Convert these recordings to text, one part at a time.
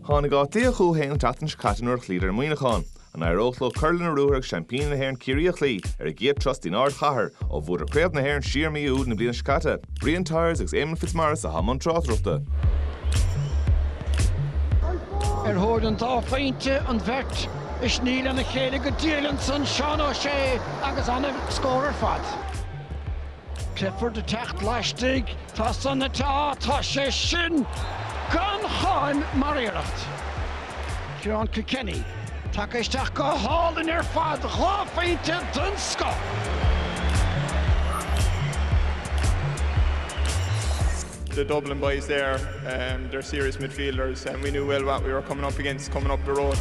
Tháinig Áth Cliath chucu fhéin an tseachtain seo caite nuair a chloíodar Muineachán. An éireodh leo cur lena ruathar agus seaimpíní na hÉireann Ciarraí a chloí ar a gcéad turas don ardchathair ó bhuadar Craobh na hÉireann siar mí Iúil na bliana seo caite? Brian Tyers agus Éamonn Fitzmaurice atá i mbun tráchtaireachta. Ar thóir an dá phointe an bheirt ag sní lena chéile go diail ansan Seán O'Shea agus an-scór ar fad. Clifford ag teacht laistigh, tá san ait tá sé sin gan cháim mar iarracht. Ciarán Kilkenny, tagtha isteach go hálainn ar fad, dhá phointe den scoth. the Dublin boys there, um, they're serious midfielders and we knew well what we were coming up against coming up the road.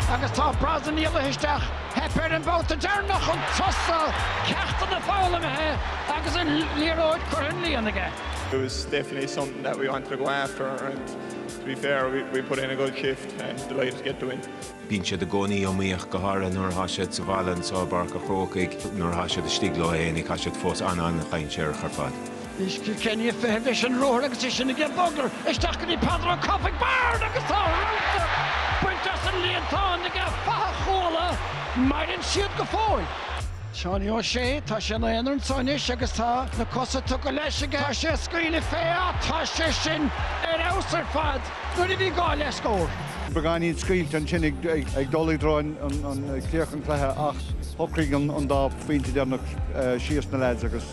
Agus tá Breen imithe isteach. Theip air an babhta deireanach chun tosaigh, ceachtanna foghlamtha agus an liathróid curtha sa líon aige. It was definitely something that we wanted to go after and to be fair we we put in a good shift and delighted to get the win. Bíonn siad i gcónaí iomaíoch, go háirithe nuair atá siad sa bhaile anseo i bPáirc a' Chrócaigh. Nuair atá siad istigh leo fhéinig tá siad fós an-an-chontúirteach ar fad. Is Kilkenny ag feitheamh leis an ruathar agus é sin ag bogadh isteach go dtí Peadar Ó Cofaigh Byrne agus tá rúta bainte as an líontán aige fathach Chuala. Maireann siad go fóill. Seánie Ó Sé, tá sé ina aonar anso anois agus tá na cosa tugtha leis aige. Tá sé ag scaoileadh fé ach tá sé sin ar fheabhas ar fad nuair a bhí gá le scór. Beagáinín scaoilte ansin ag dul i dtreo an críoch an cluiche ach shocraigh an dá phointe deireanach síos na leaids agus.